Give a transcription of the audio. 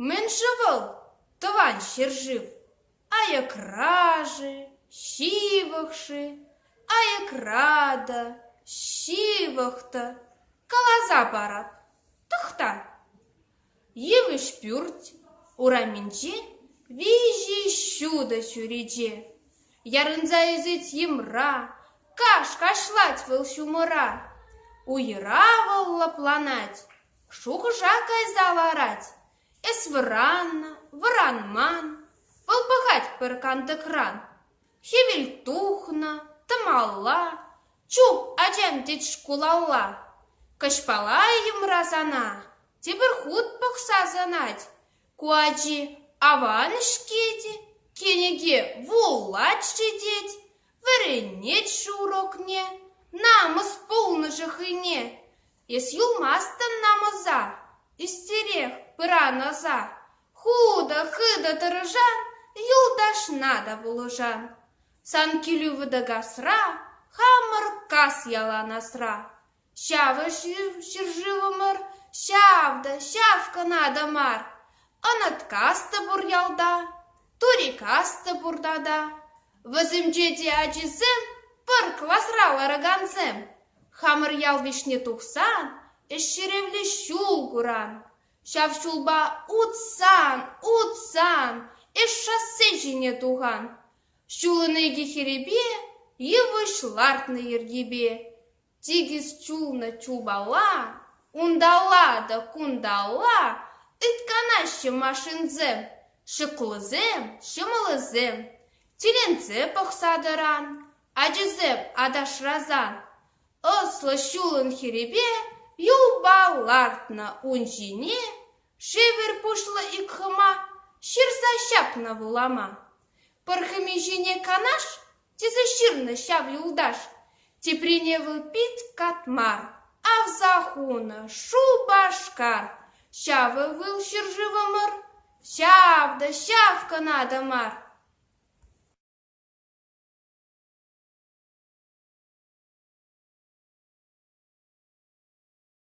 Мӗн-ши вӑл тӑван ҫӗршыв? Аякра-ши, ҫывӑх-ши? Аякра-та, ҫывӑх та каласа парап, тӑхта. Йывӑҫ пӳрт урамӗнче виҫӗ ҫутӑ чӳрече. Ярӑнса ӳсет йӑмра, каш кашлать вӑл ҫумӑра. Уйӑра вӑл лӑпланать, шухӑша кайса ларать. Эс вӑраннӑ, вӑранман, вӑл пӑхать пӗр кантӑкран. Хӗвел тухнӑ, тӑмалла, чуп ачам тет шкулалла. Кӑҫпала йӑмра сана Тепӗр хут пӑхса сӑнать, ку ачи аван-ҫке те, кӗнеке вулать-ши тет, вӗренет-ши урокне, намӑс пулнӑ-ши хӑйне, эс юлмастӑн намӑса, ӳстерех пыран аса, хутӑ-хытӑ тӑрӑшан, юлташна та пулӑшан. Сан килӳ вӑтӑ касра, хамӑр кас ялан асра. Ҫав ҫӗршывӑмӑр ҫав та ҫав кӑна мар. Ӑнаткас та пур ялта, турикас та пурта та. Вӗсенче те ачисем пӗр класра ларакансем. Хамӑр ял вӗҫне тухсан ӗҫҫӗревлӗ ҫул куран. Ҫав ҫулпа утсан, утсан эс шоссе ҫине тухан. Ҫулӑн икӗ хӗрипе йывӑҫ лартнӑ йӗркипе. Тикӗс чулнӑ чупалла, унталла та кунталла ыйтканаҫҫӗ машинсем, шӑклӑсем, ҫӑмӑлӑсем, тӳленсе пӑхса тӑран, ачисем аташрасан. Ӑслӑ ҫулӑн хирӗпе юлпа лартнӑ ун ҫине шевер пуҫлӑ ик хӑма ҫырса ҫапнӑ вулама. Пӗр хӑми ҫине канаш Тесе ҫырнӑ ҫав юлташ. Теприне вӑл пит катмар, авса хунӑ Шупашкар. Ҫавӑ вӑл ҫӗршывӑмӑр, ҫав та ҫав кӑна та мар.